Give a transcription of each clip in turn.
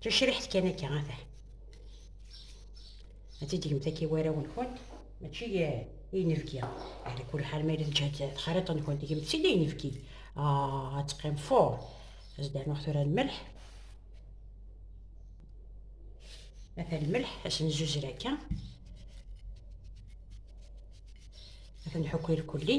Tacriḥt kan akka ata. Ad tidigmt akka i warraw-nkent, mačči i inebgi. Ala kul ḥal ma yella ǧhant texriṭ-nkent, tigemt si d inebgi. Ah, ad teqqim fur. Ad s-d-rnuɣ tura lmelḥ. Ata lmelḥ, ad s-nzuzer akka. Ad nḥukk irkulli.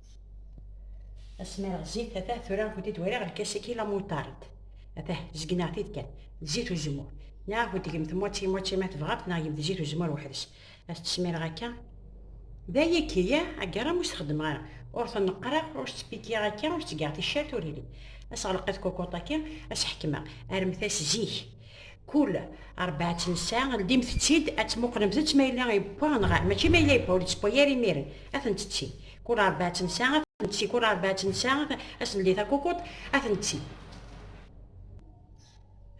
Asmi rɣ zzit, atah tura ad kent-id wariɣ lkas-agi la moutarde. Atah, zegneɣ-t-id kan, d zzit uzemmur. Neɣ ad kent-tgemt moitié moitié ma tebɣamt, neɣ gemt zzit uzemmur weḥd-s. Ad t-tesmireɣ akka. D ayagi, yah, agaram ur s-xeddmeɣ ara. Ur ten-qqreɣ, ur s-ttpikkiyeɣ akka, ur s-ttgeɣ ticcert, ur yelli. Ad s-ɣleqeɣ i tkukuṭ-agi, ad s-ḥekmeɣ, rremt-as zik. Kul rebɛa tnessa, ldimt-tt-id ad tmuqlemt-tt ma yella yewwa neɣ ah, mačči ma yella yewwa, ur ittewwa yar imiren, ad ten-tetti. Kul rebɛa tnessa, ad ten-tetti, kul rebɛa tnessa, ad s-neldi takukuḍt, ad ten-tetti.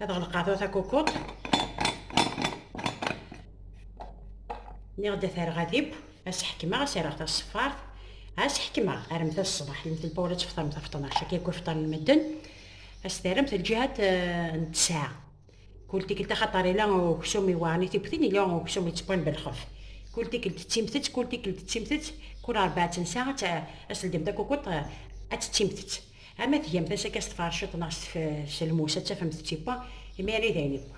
Ad ɣelqeɣ tura takukuḍt. Niɣ-d ad t-rreɣ adib, ad s-ḥekmeɣ, ad s-rreɣ taṣeffart, ad s-ḥekmeɣ armeta ṣṣbeḥ, yemtel Paul ad tefṭer meta fṭnac, akka yewwa fṭan n medden. As terremt lǧihat n ttesɛa. Kul tikkelt axaṭer ila uksum iweɛren i tiwtin, ila uksum yettewwan belxef. Kul tikkelt d timtett, kul tikkelt d timtett, kul rebɛa n ssaɛa ad tledyem takukuṭ ad d timtett. Ha ma tgamt as akka s tferciḍt neɣ s lmus ad tafemt tiwwa, imir i d ayen iwwa.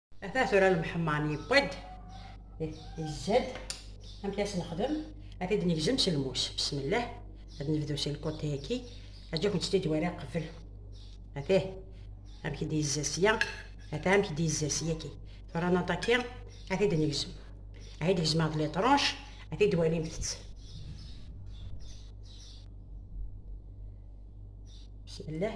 ata tura lemḥemman yewwi-d izzad amek as nexdem ad t-id negzem s lmus bismillah ad nebdu si lkotayaki aǧa kent-id wara qbel atih amek i d-yezza sya ata amek i d-yezza syaki tura naṭaki ad t-id negzem ad t-id gezmeɣ d litranc ad t-id walimt-tt bismillah